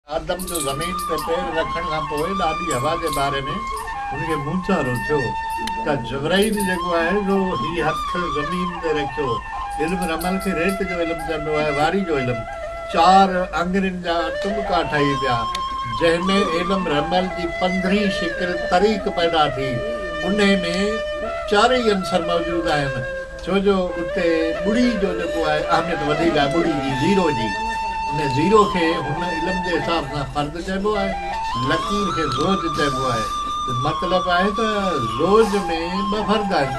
آدم جو زمين تي پير رکڻ کان پوء ڏاڍي هوا جي باري ۾ هن کي موچارو ٿيو ته جبرائيل جيڪو آهي سو هي هٿ زمين تي رکيو. علم رمل کي ريت جو علم چئبو آهي واري جو علم چار آڱرين جا ٽٻڪا ٺهي پيا جنهن ۾ علم رمل جي پنڌرين شڪل طريق پيدا ٿي انهي ۾ چارئي عنصر موجود آهن. ڇو جو اتي ٻڙي جو جيڪو آهي اهميت وڌيڪ آهي ٻڙي جي زيرو جي ان زيرو کي هن علم جي حساب سان فرد چئبو آهي لڪير کي زوج چئبو آهي ته مطلب آهي ته زوج ۾ ٻه فرد آهن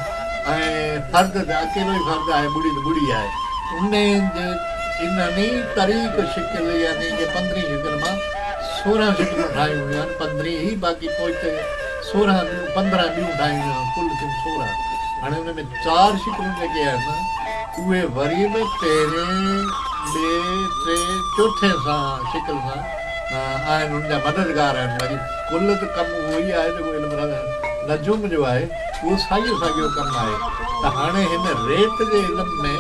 ۽ فرد ته اڪيلو ئي فرد آهي ٻڙي ته ٻڙي آهي ان جي انهن ئي طريق شڪل يعني ڪي پندرهين شڪل مان سورهن شڪلون ٺاهيون ويون آهن پندرهين ئي باقي پوئتي سورهن ڏينهن پندرهن ڏيون ٺاهيون يا ڪل ٿيون سورهن هاڻي ان ۾ چار شڪلون جيڪي آهن اهي وري به پهرين ٻئي ٽي چوٿين سان شڪل سان آهن ان جا مددگار آهن باقي ڪل ته ڪم اهو ئي آهي جيڪو علم نجوم جو آهي اهو ساڳيو ساڳيو ڪم آهي ته هاڻي هن ريت جي علم ۾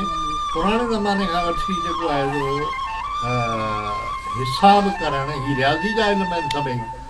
پراڻي زماني کان وٺي جيڪو آهي سو حساب ڪرڻ هي رياضي جا علم آهن سڀئي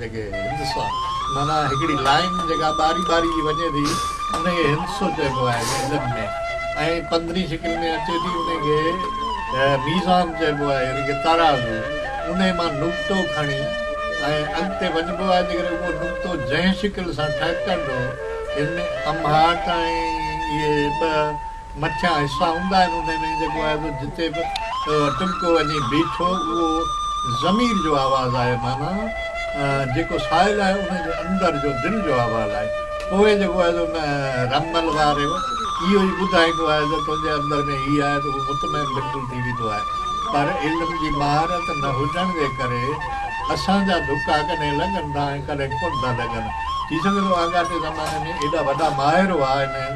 جيڪي هندسا معنيٰ هڪڙي لائين جيڪا ٻاري ٻاري وڃي ٿي انهي کي هندسو چئبو آهي گهنڊن ۾ ۽ پندرين شڪل ۾ اچي ٿي انهي کي ميزان چئبو آهي يعني ڪه ترازو انهي مان نقطو کڻي ۽ اڳتي وڃبو آهي جيڪڏهن اهو نقطو جنهن شڪل سان ٺهڪندو ان ۾ امهاٽ ۽ اهي ٻه مٿيان حصا هوندا آهن انهي ۾ جيڪو آهي سو جتي به ٽٻڪو وڃي بيٺو اهو ضمير جو آواز آهي معنيٰ جيڪو سائل آهي ان جي اندر جو دل جو آواز آهي پوء جيڪو آهي سو ان رمل واريو اهو ئي ٻڌائيندو آهي ته تنهنجي اندر ۾ هي آهي ته هو مطمئن بلڪل ٿي ويندو آهي پر علم جي مهارت نه هجڻ جي ڪري اسان جا ڌڪا ڪڏهن لڳن ٿا ۽ ڪڏهن ڪونه ٿا لڳن ٿي سگهي ٿو آڳاٽي زماني ۾ ايڏا وڏا ماهر هئا ان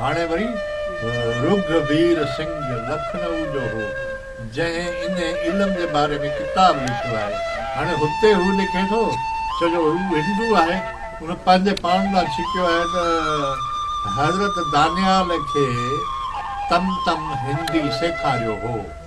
هاڻي وري رگهوير سنگهه لکنئو جو هو، جنهن انهي علم جي باري ۾ ڪتاب لکيو آهي. هاڻي هتي هو لکي ٿو، ڇو جو هو هندو آهي، هن پنهنجي پاڻ ڏانهن ڇڪيو آهي ته حضرت دانيال کي تم تم هندي سيکاريو هو.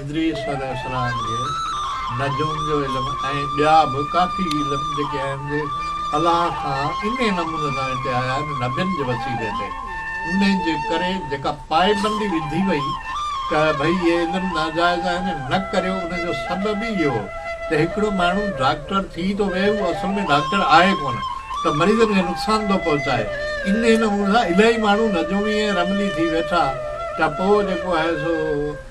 ادريس عليه السلام کي نجوم جو علم ۽ ٻيا به ڪافي علم جيڪي آهن جي الله کان انهي نموني سان هتي آيا آهن نبين جي وسيلي تي انهي جي ڪري جيڪا پائبندي وڌي وئي ته ڀئي اهي علم ناجائز آهن ۽ نه ڪريو ان جو سبب ئي اهو ته هڪڙو ماڻهو ڊاڪٽر ٿي ٿو ويهي هو اصل ۾ ڊاڪٽر آهي ڪونه ته مريضن کي نقصان ٿو پهچائي انهي نموني سان الائي ماڻهو نجومي ۽ رملي ٿي ويٺا ته پوء جيڪو آهي سو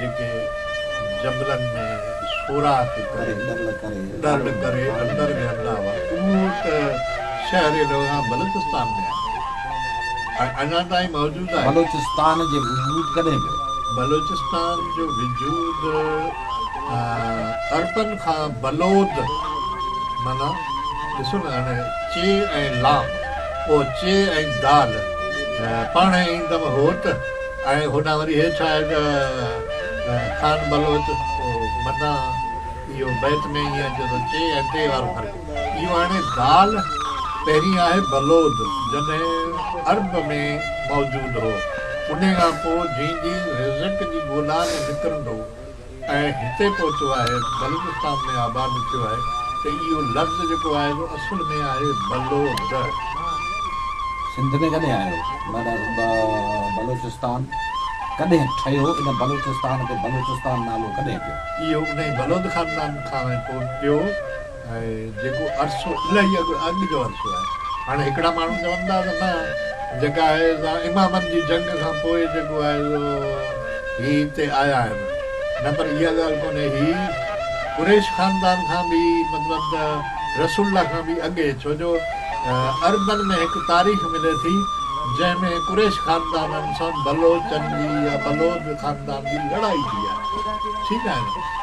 جيڪي جبلن ۾ سوراخ ڪري ڏرل ڪري اندر ويهندا هئا، اهو ته شهر لوها بلوچستان ۾ آهي ۽ اڃا تائين موجود آهي. بلوچستان جي وجود ڪڏهن پيو؟ بلوچستان جو وجود عربن کان بلود معنيٰ ڏسو نه هاڻي چي ۽ لام پوء چي ۽ دال پاڻهي ايندم هوت. ۽ هوڏانهن وري هيٺ آهي ته خان بلوچ متان اهو بيت ۾ ائين اچي ٿو چي ۽ ٽي وارو فرق اهو آهي ڳالهه پهرين آهي بلوض جڏهن عرب ۾ موجود هو انهي کان پوء جنهن جي رزق جي ڳولا ۾ نڪرندو ۽ هتي پهتو آهي بلوچستان ۾ آباد ٿيو آهي ته اهو لفظ جيڪو آهي سو اصل ۾ آهي بلو دهه. سنڌ ۾ ڪڏهن آيو؟ بلوچستان ڪڏهن ٺهيو؟ ان بلوچستان کي بلوچستان نالو ڪڏهن پيو؟ اهو انهي بلوند خاندان کان ۽ پوء پيو. ۽ جيڪو عرصو الائي اڳ اڳ جو عرصو آهي هاڻي هڪڙا ماڻهو چون ٿا ته نه جيڪا آهي سا امامن جي جنگ کان پوء جيڪو آهي سو هي هتي آيا آهن نه پر اها ڳالهه ڪونهي هي قريش خاندان کان به مطلب ته رسول الله کان به اڳي ڇو جو عربن ۾ هڪ تاريخ ملي ٿي جنهن ۾ قريش خاندانن سان بلوچن جي يا بلوچ خاندان جي لڙائي ٿي آهي ٺيڪ آهي نه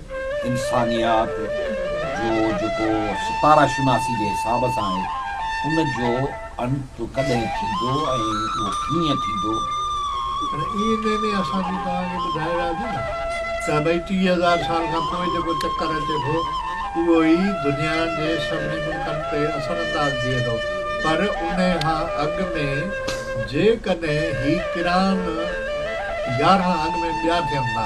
انسانيات جو جيڪو ستاره شناسي جي حساب سان آهي ان جو انت ڪڏهن ٿيندو ۽ اهو ڪيئن ٿيندو؟ پر ايئن ڪنهن ڏينهن اسان جي توهان کي ٻڌائي وياسين نه ته ڀئي ٽيهه هزار سال کان پوء جيڪو چڪر اچي ٿو اهو ئي دنيا جي سڀني ملڪن تي اثر انداز ٿئي ٿو پر انهي کان اڳ ۾ جيڪڏهن هي ڪران يارهن اڳ ۾ ٻيا ٿين ٿا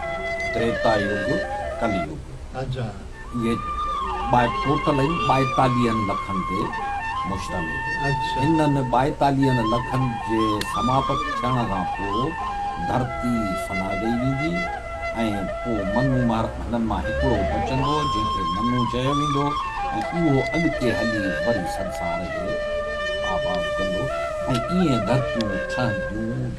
تريتا يگ، ڪلي يگ. اهي ٻائي ٽوٽل آهن ٻائيتاليهن لکن تي مشتمل. انهن ٻائيتاليهن لکن جي سماپت ٿيڻ کان پوء ڌرتي فنا ڏئي ويندي ۽ پوء منو مهر هنن مان هڪڙو بچندو جنهن کي منو چيو ويندو ۽ اهو اڳتي هلي وري سنسار کي آباد ڪندو ۽ ائين ڌرتيون ٺهنديون.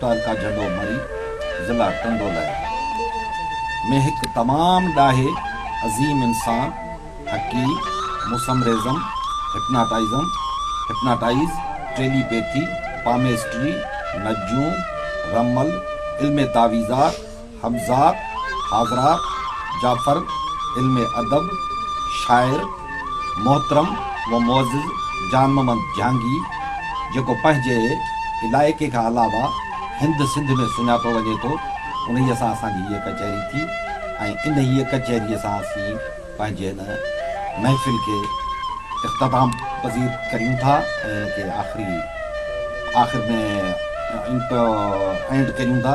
تعلقه جهنڊو مري، ضلع ٽنڊو لهي، ۾ هڪ تمام ڏاهي، عظيم انسان، حڪيم، mesmerism, hypnotism, Hypnotize، telepathy, palmistry, نجوم، رمل، علم تعويذات، حمزات، حاضرات، جعفر، علم ادب، شاعر، محترم و معزز جان محمد جهانگي جيڪو پنهنجي علائقي کان علاوه هند سنڌ ۾ سڃاتو وڃي ٿو انهيء سان اسان جي هيء ڪچهري ٿي ۽ انهيء ڪچهريء سان اسين پنهنجي هن محفل کي اختتام پذير ڪريون ٿا ۽ ان کي آخري آخر ۾ End ڪريون ٿا.